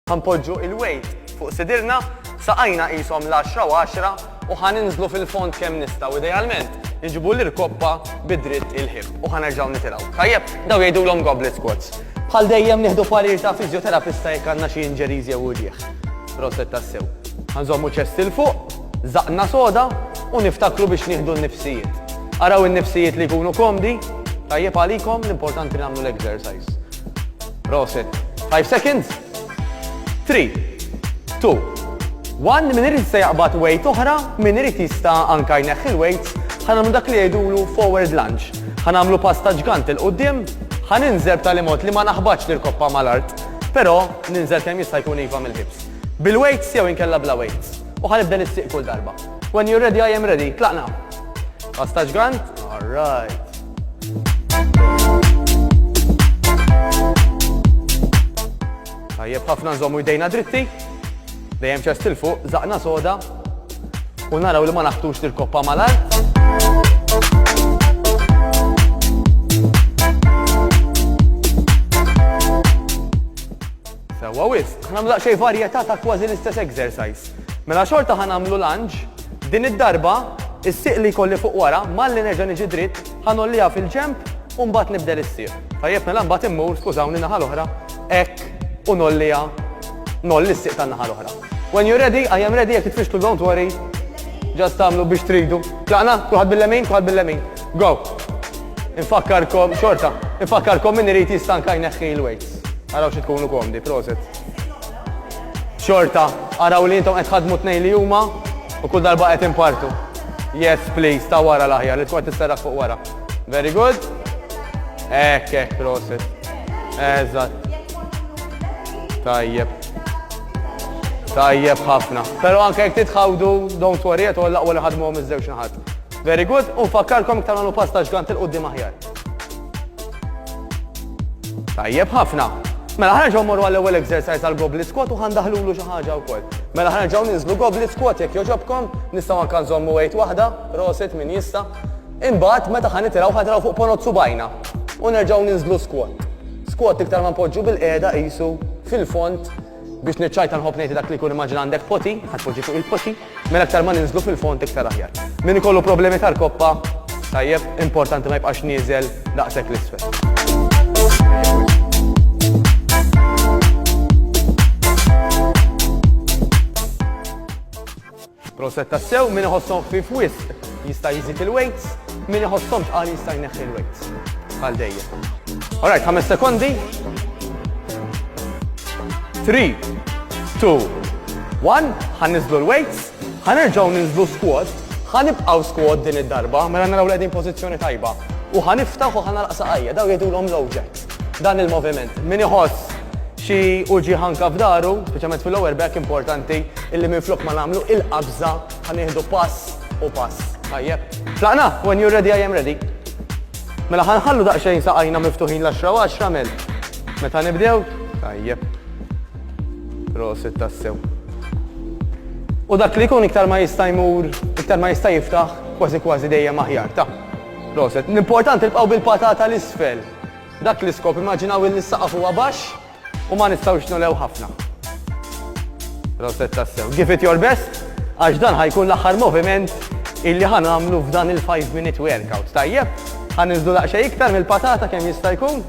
Ħa npoġġu il-wejt fuq sidirna, saqajna qishom l-għaxra u għaxra u ħa ninżlu fil-fond kemm nistgħu, idealment inġibu l-irkoppa bi dritt il-ħipp u ħa nerġgħu nitilgħu. Tajjeb, dawn jgħidulhom goblet squats. Bħal dejjem nieħdu parir ta' fiżjoterapista jekk għandna xi injuries jew uġigħ. Proset tassew. Ħa nżommu ċest 'il fuq, żaqqna soda u niftakru biex nieħdu n-nifsijiet. Araw in-nifsijiet li jkunu komdi, tajjeb għalikom l-importanti nagħmlu l-exercise. Proset. Five seconds. Three. Two. One. Min irid jista' jaqbad weight oħra, min irid jista' anka jneħħi l-weights, ħa nagħmlu dak li jgħidulu forward lunge. Ħa nagħmlu pass ta' ġgant 'il quddiem, ħa ninżel b'tali mod li ma naħbatx l-irkoppa mal-art, però ninżel kemm jista' jkun iva mill-hips. Bil-weights jew inkella bla weights. U ħa nibda nistieq kull darba. When you're ready, I am ready. Tlaqna. Pass ta' ġgant. All right. Tajjeb ħafna nżommu jdejna dritti, dejjem ċest il fuq, zaqna soda, u naraw li ma naħtux l-koppa malar. Sewwa wisq, ħa nagħmlu daqsxejn varjetà ta' kważi l-istess exercise. Mela xorta ħa nagħmlu lunge, din id-darba is-sieq li jkolli fuq wara malli nerġa' niġi dritt ħa ngħolliha fil-ġenb u mbagħad nibdel is-sieq. Tajjeb mela mbagħad immur, skużawni, in-naħa l-oħra hekk u ngħolliha, ngħolli s-sieq tan-naħa l-oħra. When you're ready, I am ready, jekk titfixklu don't worry, just tagħmlu biex tridu. Tlaqna, kulħadd bil-lemin, kulħadd bil-lemin. Go! Infakkarkom, xorta, infakkarkom min irid jistanka jneħħi l-weight. Araw xi tkunu komdi, proset. Xorta, araw li intom qed ħadmu tnejn li huma u kull darba qed impartu. Yes, please, ta' wara l-aħjar, li tkun tisserraħ fuq wara. Very good. Ekk, ekk, proset. Eżatt. Tajjeb. Tajjeb ħafna. Pero anke jek titħawdu, don't worry, għet għalla għalla ħadmu għom iż-żewġ naħat. Very good, u fakkarkom iktar għanu pasta ġgant il-qoddim aħjar. Tajjeb ħafna. Mela ħana ġaw morru għall-ewwel exercise għal goblet squat u ħandaħlulu xi ħaġa wkoll. Mela ħana ġaw ninżlu goblet squat jekk joġobkom, nistgħu anke nżommu wejt waħda, roset min jista'. Imbagħad meta ħan nitilgħu ħadraw fuq ponot subajna u nerġgħu ninżlu squat. Squat iktar ma npoġġu bil-qiegħda qisu fil-font biex niċċajta nħobb ngħid dak li jkun immaġina għandek poti, ħadd fuq il-poti, Mela aktar ma ninżlu fil-fond iktar aħjar. Min ikollu problemi tal-koppa, tajjeb, importanti ma jibqax nieżel daqshekk l-isfel. Proset tassew min iħossom fi fwis. jista' jżid il-weights, min iħosshom tqal jista' jneħħi l-weights. Għal dejjem. Alright, ħames sekondi. 3, 2, 1, ħanniżlu l-weights, ħanerġgħu ninżlu squat, ħanibqgħu squat din id-darba, mela naraw l-qegħdin pożizzjoni tajba. U ħaniftaħ u ħanalaq saqajja, daw jgħidulhom low jacks. Dan il-moviment. Min iħoss xi uġi ħanka f'daru, speċjalment fil-lower back importanti, illi minn flok ma nagħmlu il-qabża Ħa nieħdu pass u pass. Tajjeb. Tlaqna, when you're ready I am ready. Mela ħanħallu daqsxejn saqajna miftuħin l-10 u 10 mel. Meta nibdew? Tajjeb. Prosit tassew. U dak li jkun iktar ma jista' jmur, iktar ma jista' jiftaħ, kważi kważi dejjem aħjar ta' proset. L-importanti tibqgħu bil-patata l-isfel. Dak l-iskop immaġinaw il-saqaf huwa baxx, U ma nistgħux nulew ħafna. Proset tassew. Give it your best, għax dan ħajkun l-aħħar moviment illi ħan għamlu f'dan il-5 minute workout. Tajjeb, ħan nizdu laqxa iktar mill-patata kemm jista' jkun.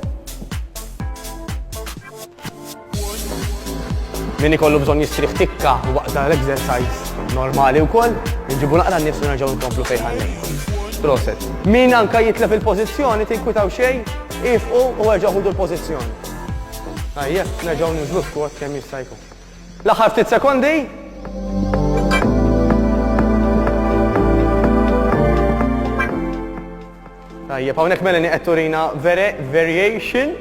Min ikollu bżonn jistrih tikka waqt dan l-exercise normali wkoll, nġibu naqra n-nifs u nerġgħu nkomplu fejn ħallejn. Proset. Min anka jitlef il-pożizzjoni tinkwitaw xejn, ifqu u erġgħu l-pożizzjoni. Tajjeb, nerġgħu ninżlu squat kemm jista' jkun. L-aħħar ftit sekondi. Tajjeb, hawnhekk Melanie qed turina variation.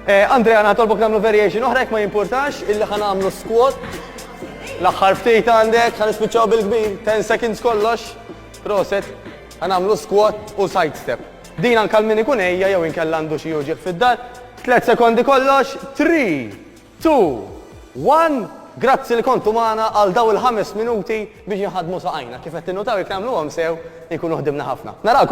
Eh, Andrea, naħtolbok nagħmlu variation oħra jekk ma jimpurtax illi ħan nagħmlu squat. L-aħħar ftit għandek ħan nispiċċaw bil-kbir, 10 seconds kollox. Proset, ħan nagħmlu squat u side step. Din anke għal min ikun għejja jew inkella għandu xi uġigħ fid-dar. Tliet sekondi kollox, three, two, one, grazzi li kontu magħna għal dawn il-ħames minuti biex inħaddmu saqajna. Kif qed tinnutaw jekk nagħmluhom sew inkunu ħdimna ħafna. Narakom!